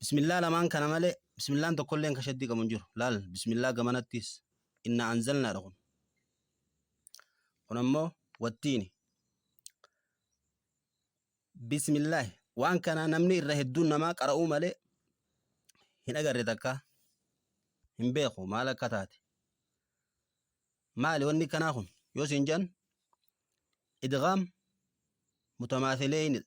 Bismillah lamaan kana malee bismillaan tokkolleen kan shaddii qabu hin jiru. Laal bismillah gamanattis inna anzalnaadha kun. Kun ammoo wattiini. Bismillah waan kana namni irra hedduun namaa qara'uu malee hin agarre takka hin beeku maal akka taate. Maali wanni kanaa kun yoo siin jedhan idgaam mutamaafileeyinidha.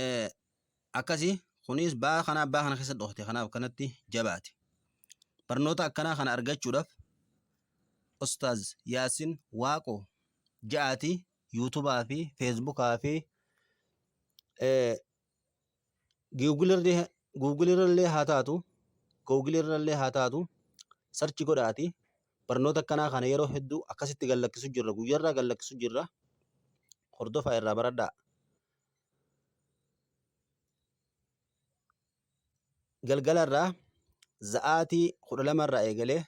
Eh, akkasi kunis baa kana abbaa kana keessa dhoofte kanaaf kanatti jabaate barnoota akkanaa kana argachuudhaaf ustaaz yaasin waaqo ja'aati yuutubaa fi feesbukaa fi eh, Google irrallee haa taatu google irrallee haa taatu search godhaati barnoota akkanaa kana yeroo hedduu akkasitti gad lakkisuu jirra guyyarraa gad lakkisuu jirra hordofaa irraa baradhaa. Galgalarraa sa'aatii kudha lamarraa eegalee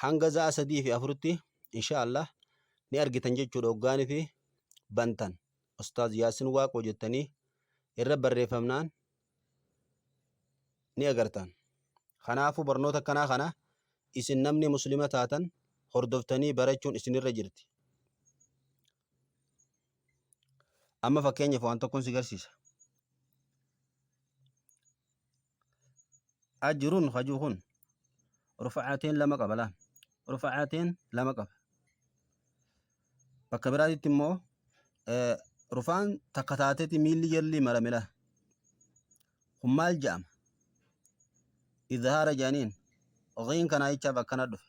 hanga za'a sadii fi afuritti insha Allah ni argitan jechuudha hoggaanii fi bantan ustaaz yaasin waaqoo jettanii irra barreeffamnaan ni agartan kanaafuu barnoota akkanaa kana isin namni muslima taatan hordoftanii barachuun isinirra jirti Amma fakkeenyaaf waan tokkoon si garsiisa. Ajirun hajuu kun rufa'aateen lama qaba laal. Rufa'aateen lama qaba. Bakka biraatitti immoo eh, rufaan takka taateti miilli jalli marame laal. Kun maal jedhama? Izhaara jedhaniin. Ghiin kanaa jechaaf akkana dhufe.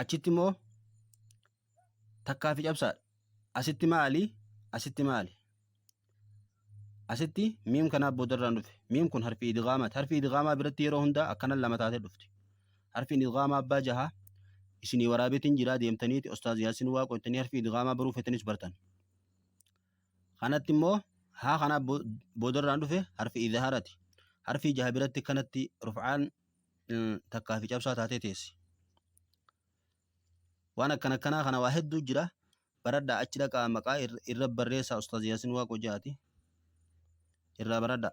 achitti immoo takkaa fi cabsaadha. Asitti maali? Asitti maali? Asitti miim kanaaf boodarraan dhufe. Miim kun harfi idgaamaati. Harfi idgaamaa biratti yeroo hundaa akkanan lama taatee dhufti. Harfi idgaamaa abbaa jahaa isinii waraabeetiin jiraa deemtaniiti Ustaaz Yaasin Waaqoo jettanii harfi idgaamaa baruu feetanis bartan. Kanatti immoo haa kanaaf boodarraan dhufe harfi idhaarati. Harfi jaha biratti kanatti rufcaan takkaa fi cabsaa taatee teessi. Waan akkan akkanaa kana waa hedduu jira. Baradhaa achi dhaqaa maqaa ir- irra barreessaa Ustaaz Yaasin Waaqoo jaati. Irraa baradhaa.